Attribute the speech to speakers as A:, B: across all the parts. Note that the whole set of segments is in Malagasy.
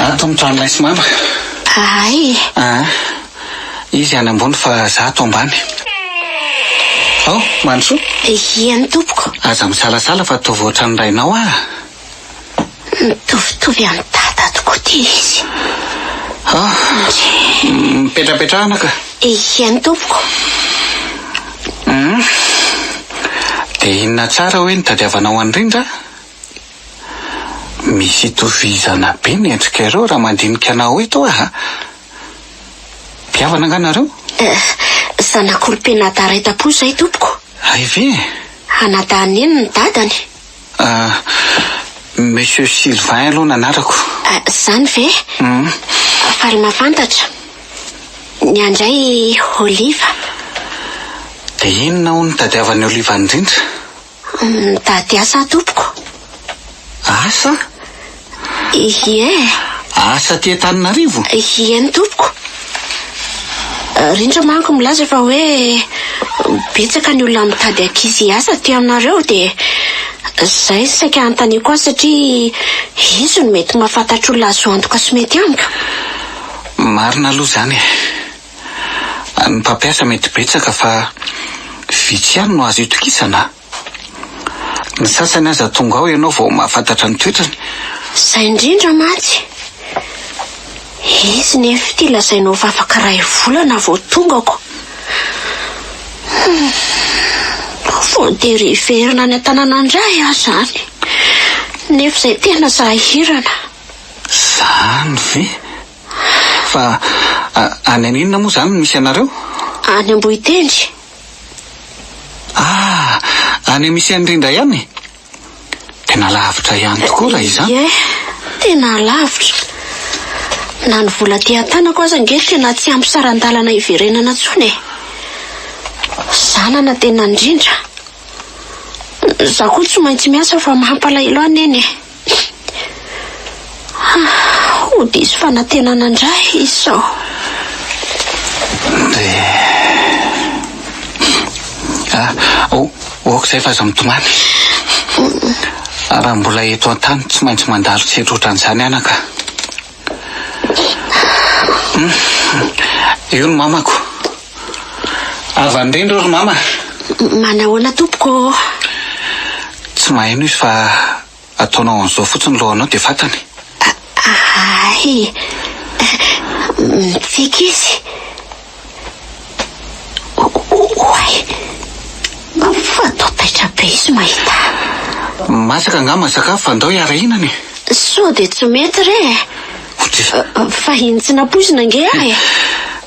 A: An to mitrano ilay sy mama. Ahay e.
B: Aa
A: izy any ambony fa za ato ambany. Ao Mandrosoa. Ia ny tompoko.
B: Aza misalasala fa
A: ataovy ohatran'ny rainao aa.
B: Mitovitovy amin'i dada tokoa ty izy. Ao
A: mipetrapetraha anaka. Ia ny tompoko.
B: Hum
A: dia inona tsara hoe ny tadiavanao an'i Rindra? Misy itovizana be ny endrika ireo raha mandinika anao eto aho a! Mpihavana angaha nareo? Eh, zanak'olom-penadaraitam-po
B: izay tompoko. Hay ve e!
A: Anadahy
B: Neny ny dadany. Ah,
A: Monsieur Sylvain aloha ny anarako. Ah, izany ve?
B: Uhm. Faly mahafantatra. Ny ahy indray Oliva.
A: Dia inona hono no tadiavan'i Oliva indrindra? Mitady
B: asa aho tompoko.
A: Asa?
B: Ie. Asa
A: aty Antananarivo? Ie ny tompoko.
B: Rindra manko milaza fa hoe betsaka ny olona mitady ankizy hiasa aty aminareo dia izay no saika anontaniako azy satria izy no mety mahafantatr'olona azo antoka sy mety amiko.
A: Marina aloha izany e. Ny mpampiasa mety betsaka fa vitsy ihany no azo itokisana. Ny sasany aza tonga ao ianao vao mahafantatra ny toetrany. Izay
B: indrindra mantsy. Izy nefa ity lazainao fa afaka iray volana vao tongako. Voatery hiverina any an-tanàna indray aho izany nefa izay tena sahirana.
A: Izany ve? Fa any any inona moa izany no misy anareo? Any Ambohitendry.
B: Ah!
A: Any misy an'i Rindra ihany e! Tena lavitra ihany tokoa raha izany. Ie, tena
B: lavitra. Na ny vola aty an-tanako aza ange tena tsy ampy saran-dalana hiverenana intsony e! Zanana tena an-dRindra. Izaho koa tsy maintsy miasa fa mampalahelo ahy Neny e! Ho diso fanantenana indray izy sao. Dia
A: Ah, oh, ok izay fa aza mitomany. Raha mbola eto an-tany tsy maintsy mandalo tsy hitroatra an'izany anaka. Io ny mamako. Avy any rindro ry mama a! Manahoana
B: tompoko ô?
A: Tsy maheno izy fa ataonao an'izao fotsiny lohanao dia fantany. Ahay!
B: Mitsiky izy. Oay! Fanao taitra be izy mahita ahy. Masaka
A: angamba ny sakafo fa andao hiara-hihinana e! Sao dia tsy
B: mety re e? Fahiny tsy nampoizina ange aho e!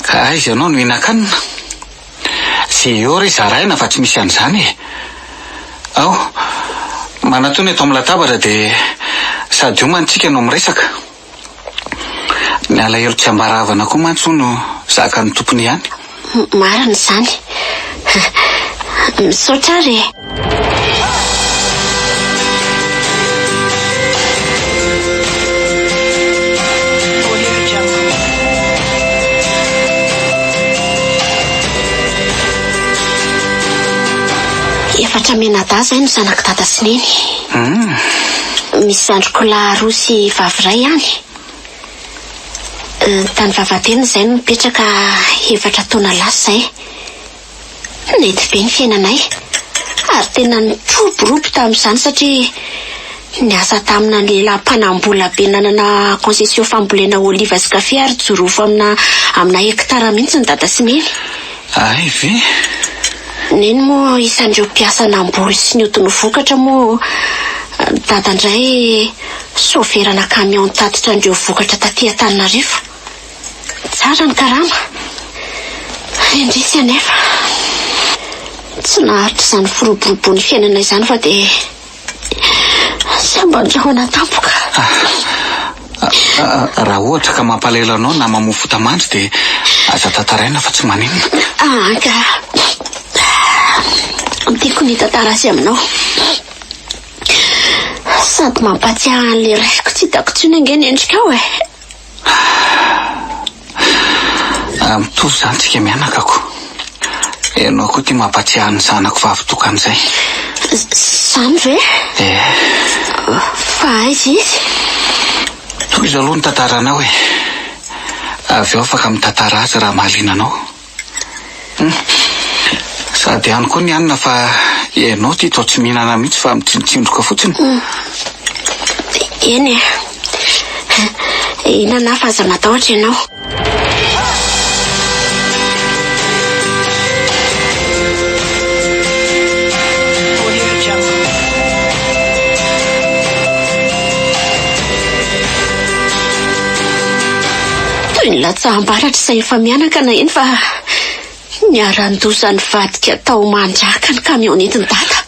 B: Ka aiza
A: ianao no hihinan-kanina? Ze eo re zaraina fa tsy misy an'izany e! Ao, manatona eto amin'ny latabatra dia sady homana isika no miresaka. Ny alahelo tsy ambara havana koa mantsy hono zakan'ny tompony ihany. Marina
B: izany. Misaotra ary e. Efatra menadahy izay no zanak'i dada sy neny. Misy zandriko lahy roa sy vavy iray ihany. Tany Vavahadena izahay no nipetraka efatra taona lasa izay. Nety be ny fiainanay, ary tena nitroborobo tamin'izany satria niasa tamina ny lehilahy mpanam-bola be nanana concession fambolena oliva sy kafe ary jorofo amina amina hekitara mihitsy ny dada sy neny. Hay ve? Neny moa isan'ireo mpiasa namboly sy nihodina ho vokatra moa dada indray Soferana camion nitatitra an'ireo vokatra taty Antananarivo. Tsara ny karama. Indrisy anefa, tsy naharitra izany firoboroboan'ny fiainana izany fa dia samban-drahona tampoka.
A: Raha ohatra ka mampalahelo anao na mamoa fota mandry dia aza tantaraina fa tsy maninona. Anga.
B: Tiako ny hitantara azy aminao. Sady mampahatsiahy an'ilay raiko tsy hitako intsony ange ny endrikao e! Raha
A: mitovy izany tsika mianakako. Ianao koa ity mampahatsiahy ny zanako vavy tokana izay.
B: Izany ve? Ee. Fa aiza izy?
A: Tohizo aloha ny tantaranao e! Avy eo afaka mitantara azy raha mahaliana anao. Sady any koa ny hanina fa ianao ity toa tsy mihinana mihitsy fa mitsinotsindroka fotsiny.
B: Eny e. Hihinana aho fa aza matahotra ianao. Toy ny latsaham-baratra izay efa mihanakana iny fa niharan-doza nivadika tao Mandriaka ny kamiao nentin'i Dada.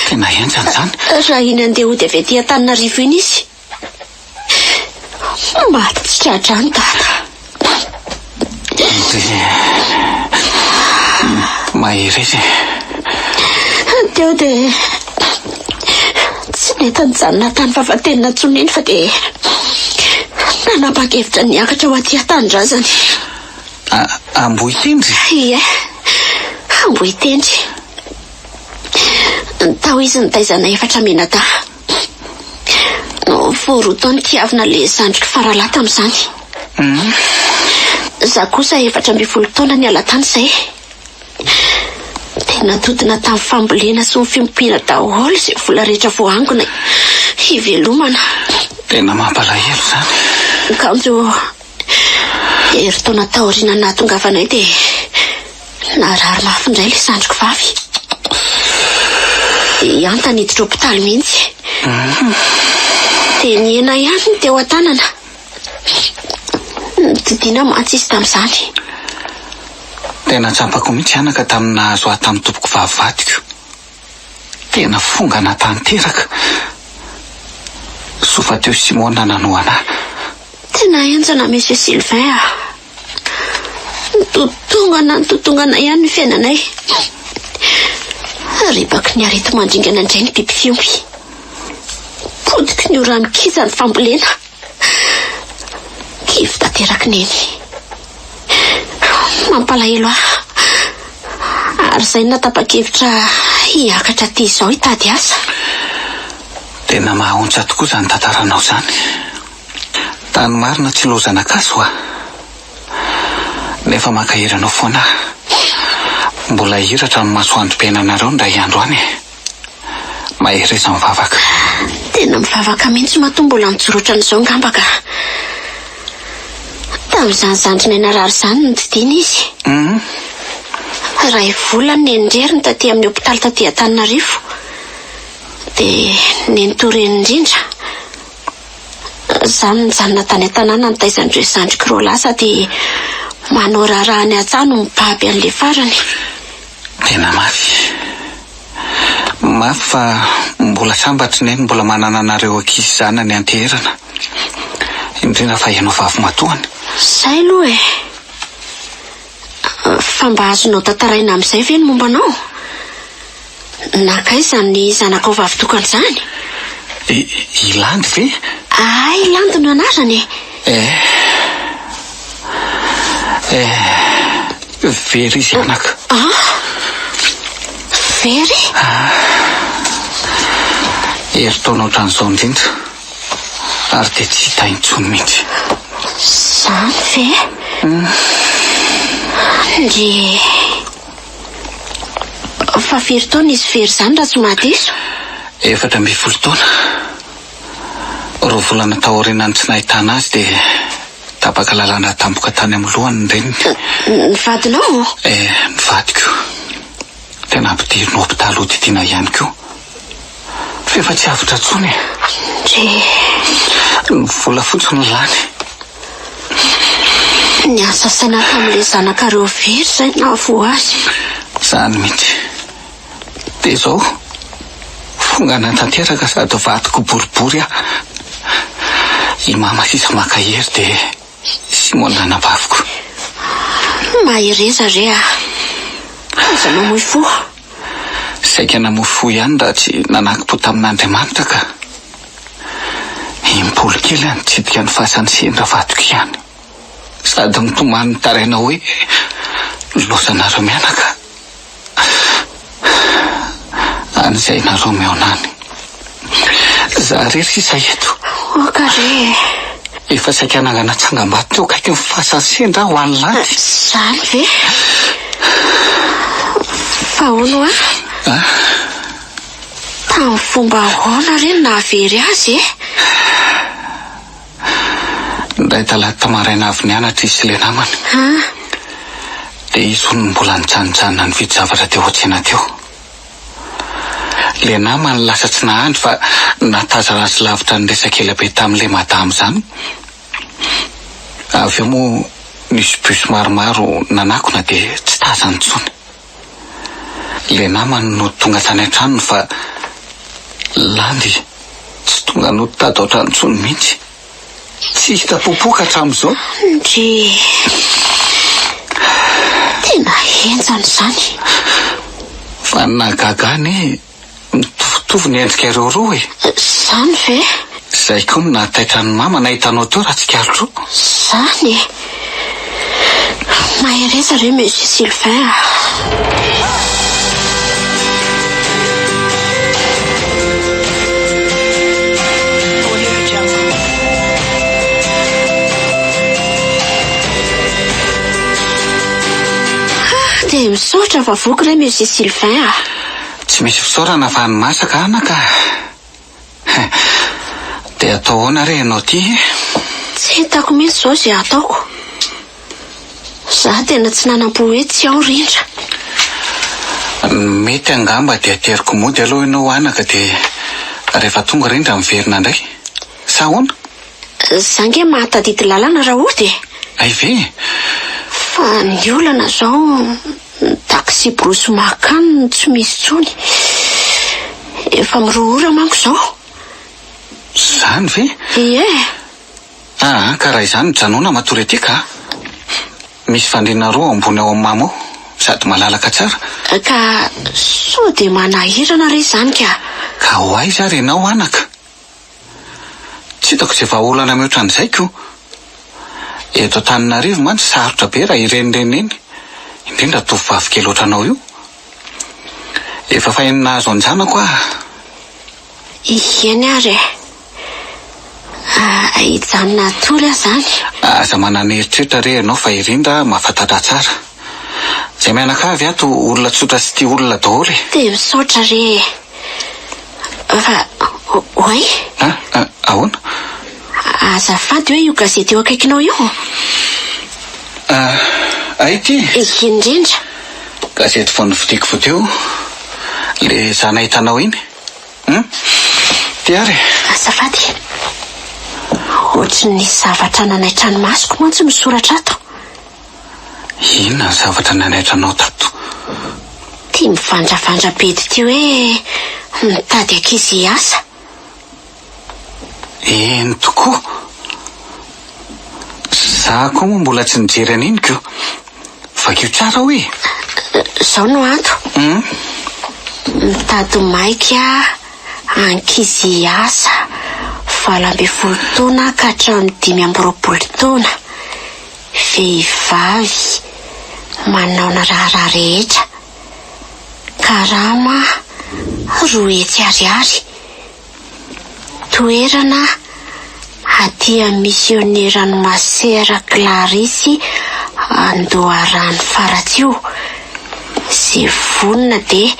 B: Tena henjana
A: izany. Raha iny handeha hody
B: avy aty Antananarivo iny izy, maty tsy tra-drano Dada.
A: Mahereza e.
B: Teo dia. Tsy nety nijanona tany Vavatenina intsony iny fa dia nanapa-kevitra ny hiakatra ho aty an-tanindrazana. A, Ambohitendry?
A: Ie,
B: Ambohitendry. Ny tao izy nitaizana efatra mianadahy. Vao roa taona kiavina ilay zandriko faralahy tamin'izany. Izaho kosa efatra ambin'ny folo taona niala tany izay. Dia nantotona tamin'ny fambolena sy ny fiompiana daholo izay vola rehetra voaangona hivelomana. Tena
A: mampalahelo izany. Ny kanjo
B: herintaona taorianan'ny nahatongavanay dia narary mafy indray ilay zandriko vavy. Dia hiantany hiditra hopitaly mihitsy. Dia nihena ihany ny teo an-tanana. Notsidihina mantsy izy tamin'izany.
A: Tena tsapako mihitsy anaka tamin'ny nahazo ahy tamin'ny tompoko vavy vadiko. Tena fongana tanteraka. Soa fa teo Simona nanohana ahy. Tena
B: henjana Monsieur Sylvain a. Nitotongana nitotongana ihany ny fiainanay. Ripaky ny areti-mandringana indray ny biby fiompy. Potiky ny ora mikija ny fambolena. Kivy tanteraka Neny. Mampalahelo ahy. Ary izay no natapa-kevitra hiakatra aty izao hitady asa.
A: Tena mahaontsa tokoa izany tantaranao izany. Tany marina tsy lozana gasy hoa. Nefa mankahery anao foana aho. Mbola hihiratra amin'ny masoandrom-piainanareo indray andro any e. Mahereza mivavaka. Tena
B: mivavaka mihitsy matoa mbola nijoroatra an'izao ngamba ka. Tamin'izany zandrinay narary izany no nididiana izy. Iray volana no neny reriny taty amin'ny hopitaly taty Antananarivo. Dia neny toa reny indrindra. Izaho no nijanona tany an-tanàna nitaiza an'ireo zandriko roa lahy sady manao raharaha any an-tsaha no mibaby an'ilay farany. Tena
A: mafy. Mafy fa mbola sambatry neny mbola manana anareo ankizy zanany anteherana. Indrindra fa ianao vavimatoany. Zay aloha e.
B: Fa mba azonao tantaraina amin'izay ve ny momba anao? Nankaiza ny zanakao vavitokana izany?
A: I Landy ve? Ahy Landy
B: no anarany e. Eh!
A: Eh! Very izy anaka. Ah!
B: Very?
A: Herintaona ohatran'izao indrindra ary dia tsy hita intsony mihitsy. Izany
B: ve? Dia fa very taona izy very izany raha tsy mahadiso? Efatra ambin'ny
A: folo taona. Roa volana taorian'ny tsy nahitana azy dia tapaka lalana tampoka tany amin'ny lohany ny reniny. Ny vadinao?
B: E, ny vadiko.
A: Dia nampidiriny hopitaly hodidiana ihany koa. F'efa tsy avotra intsony e. Ndry.
B: Ny vola fotsiny
A: lany.
B: Niasa saina tamin'ilay zanakareo very izay nahavoa azy. Izany mihitsy.
A: Dia izao, fongana tanteraka sady vadiko boribory aho. I Mama sisa maka hery dia i Simona anabaviko. Mahereza
B: re a! Aza mamoy fo.
A: Saika namoy fo ihany raha tsy nanakim-po tamin'Andriamanitra ka. Im-polo kely a, nitsidika ny fasan'ny sendra vadiko ihany. sady mitomany ny tarainao hoe loza nareo mianaka any zay nareo mihaona any za rery sisa eto oka re
B: efa
A: saika nangana tsangam-bato teo kaiky ny fasan'ny sendra ho any lanty zany ve
B: fa ono a tamin'ny fomba ahoana re navery azy e
A: Indray talata maraina avy nianatra izy sy ilay namany. Dia izy hono no mbola nijanojanona nividy zavatra teo an-tsena teo. Ilay namany lasa tsy nahandry fa natazana azy lavitra niresaka ela be tamin'ilay madama izany. Avy eo moa nisy bus maromaro nanakona dia tsy tazany intsony. Ilay namany no tonga tany an-tranony fa Landy tsy tonga no tady ao-trano intsony mihitsy. Tsy hita popoka hatramin'izao. Ndry.
B: Tena henjana izany.
A: Fa ny nahagaga an e. Mitovitovy ny endrika ireo roa e! Zany ve?
B: Zay koa no
A: nahataitra an'i Mama nahita anao teo Ratsikalotro. Zany e!
B: Mahereza re Monsieur Sylvain a! Dia misaotra fa voky re Monsieur Sylvain a! Tsy misy
A: fisaorana fa ny masaka anaka eh! Dia atao ahoana re ianao ity eh? Tsy
B: hitako mihitsy izao izay hataoko. Izaho tena tsy nanam-po hoe tsy ao rindra. Ny
A: mety angamba dia ateriko mody aloha ianao anaka dia rehefa tonga rindra miverina indray. Sa ahoana? Izaho ange
B: mahatadidy lalana raha hody e! Hay ve?
A: Fa
B: ny olana izao Ny taksiborosy makan no tsy misy tsony. Efa mirohora manko izao.
A: Izany ve? Ie.
B: Aa
A: ka raha izany mijanona matory aty ka. Misy fandriana roa ao ambony ao amimamo ao sady malalaka tsara. Ka
B: sao dia manahirana re izany ka. Ka ho aiza
A: ary ianao anaka? Tsy hitako izay vahaolana mihoatra an'izay ko. Eto Antananarivo mantsy sarotra be raha ireny renireny, indrindra tovovavy kely ohatranao io. Efa faheno nahazo an-janako aho.
B: Ieny ary e. Ahijanona hatory aho izany. Aza manana
A: eritreritra re ianao fa irindra mahafantatra tsara. Zay mianakavy ato olona tsotra sy tia olona daholo e. Dia misaotra re
B: e. Fa oay? Ah, ah,
A: ahoana?
B: Azafady hoe io gazety eo akaikinao io? Ah,
A: ay ity? Ity indrindra.
B: Gazety
A: vao novidiako vao teo. Le zana hitanao iny. Hum? Ty ary e. Azafady.
B: Ohatry ny zavatra nanaitra ny masoko mantsy no soratra ato.
A: Inona ny zavatra nanaitra anao tato?
B: Tia mivandravandra be ity hoe mitady ankizy hiasa.
A: Eny tokoa. Za koa moa mbola tsy nijery an'iny ko. Vakio tsara hoy e. Zao
B: no anto. Mitady maika ankizy hiasa valo ambin'ny folo taona ka hatramin'ny dimy amby roapolo taona. Vehivavy manao ny raharaha rehetra, karama roa hetsy ariary, toerana aty amin'ny misioneran'i Masera Clarisy Andoharano Faratsiho, izay vonona dia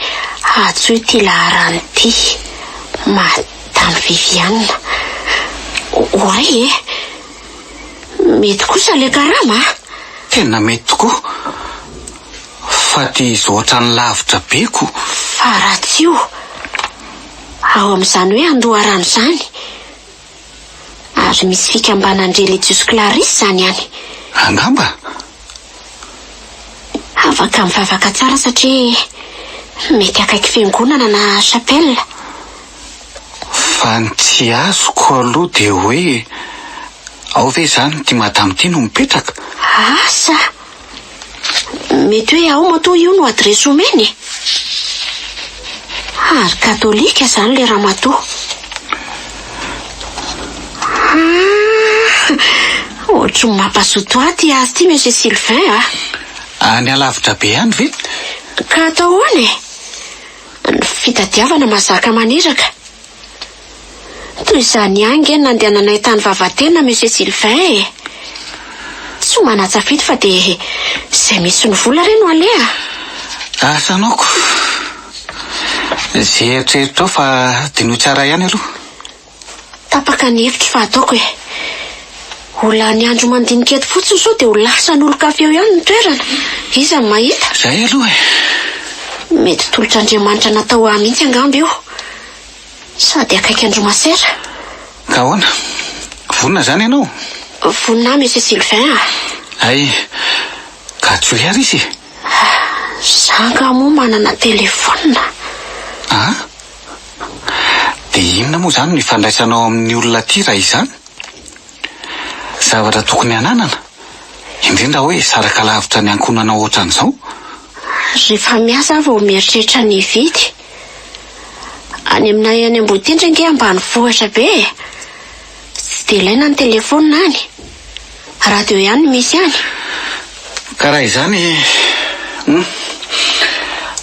B: hantsoy ity laharana ity, Madame Viviane. Oay e! Mety kosa le karama a! Tena
A: mety tokoa. Fa dia izy ohatrany lavitra be ko! Fa raha tsy io, ao
B: amin'izany hoe andoharano izany, ary misy fikambanan religiosy Clarisses izany any. Angamba. Afaka mivavaka tsara satria mety akaiky fiangonana na chapelle.
A: Fa ny tsy azoko aloha dia hoe ao ve izany ity madama ity no mipetraka? Asa!
B: Mety hoe ao matoa io no adiresy omeny e! Ary katolika izany ilay ramatoa. Ah! Ohatry ny mampazoto ahy ity azy ity Monsieur Sylvain a! Any alavitra
A: be any ve? Ka atao
B: ahoana e? Ny fitadiavana mahazaka maniraka. Toy izany ihany ange ny nandehananay tany Vavatena, Monsieur Sylvain e! Tsy ho manan-tsafidy fa dia izay misy ny vola re no aleha! Asa
A: noko! Izay eritreritro ao fa dinoy tsara ihany aloha. Tapaka
B: ny hevitro fa ataoko e. Ho lany andro mandinika eto fotsiny sao dia ho lasan'olon-kafa eo ihany ny toerana. Iza no mahita? Izay aloha e.
A: Mety
B: tolotr'Andriamanitra natao ahy mihitsy angamba io. Sady akaiky andromasera. Ka ahoana?
A: Vonona izany ianao? Vonona ahy Monsieur
B: Sylvain a. Hay.
A: Ka tsoy ary izy e.
B: Za angaha moa manana telephone? An?
A: Dia inona moa izany no ifandraisana ao amin'ny olona aty raha izany? Zavatra tokony hananana, indrindra hoe saraka lavitra ny ankohonana ohatran'izao?
B: Rehefa miasa aho vao mieritreritra ny hividy. Any aminay any Amboditendry ange ambanivohitra be e! Tsy dia ilaina ny telefaonina any. Radio ihany no misy any. Ka
A: raha izany hum.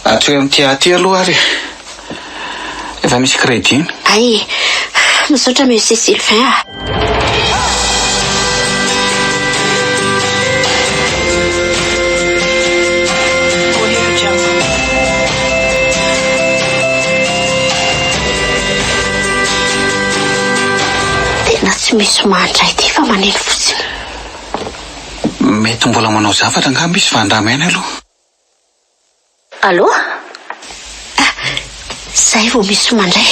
A: Atsoy amin'ity ahy ity aloha ary e. Efa misy crédit. Hay e.
B: Misaotra Monsieur Sylvain a. Tena tsy misy mandray ity fa maneno fotsiny. Mety
A: mbola manao zavatra angamba izy fa andramo ihany aloha.
B: Allo? Ah, zay vao misy mandray.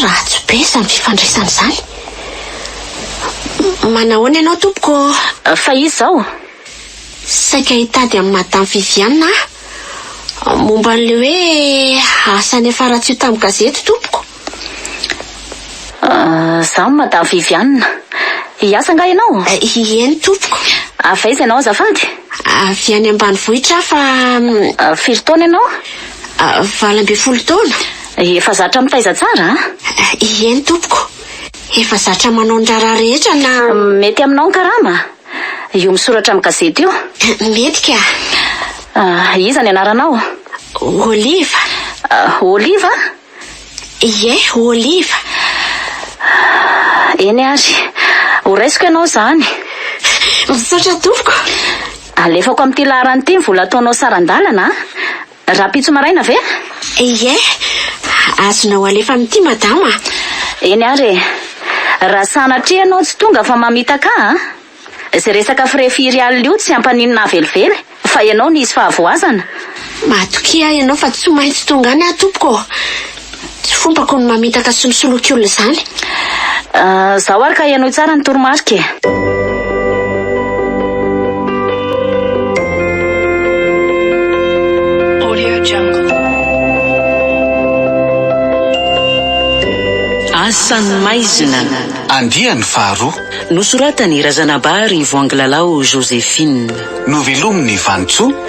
B: Ratsy be izany fifandraisana izany. Manahoana ianao tompoko? Fa iza ao? Saika hitady an'i Madame Viviane aho. Momba an'ilay hoe asa niafaratsio tamin'ny gazety, tompoko?
C: Za no Madame Viviane. Hiasa angaha ianao? Ieny, tompoko.
B: Avy aiza ianao
C: azafady? Avy any
B: ambanivohitra aho fa. Firy taona ianao?
C: Valo
B: ambin'ny folo taona. Efa zatra
C: mitaiza tsara an? Ieny,
B: tompoko. Efa zatra manao ny raharaha rehetra na. Mety aminao ny karama?
C: Io misoratra amin'ny gazety io? Mety ka.
B: Iza ny anaranao?
C: Oliva. Oliva?
B: Ie, Oliva.
C: Eny ary. Horaisiko ianao izany.
B: Misaotra tompoko. Alefako
C: amin'ity laharana ity ny vola ataonao saran-dalana an! Rahampitso maraina ve? Ie.
B: Azonao alefa amin'ity madama a! Eny ary
C: e! Raha sanatria ianao tsy tonga fa mamitaka ahy a! Izay resaka frais firiales io tsy ampaninona ahy velively fa ianao nisy fahavoazana! Matokia
B: ianao fa tsy maintsy tonga any aho tompoko ô! Tsy fopako ny mamitaka sy misoloky olona izany.
C: Zaho ary ka henoy tsara ny toromarika e. Asan'ny maizina. Andiany
A: faharoa. Nosoratan'i
C: Razanabary Voangilalao Joséphine. Novelomin'i
A: Vanintsoa.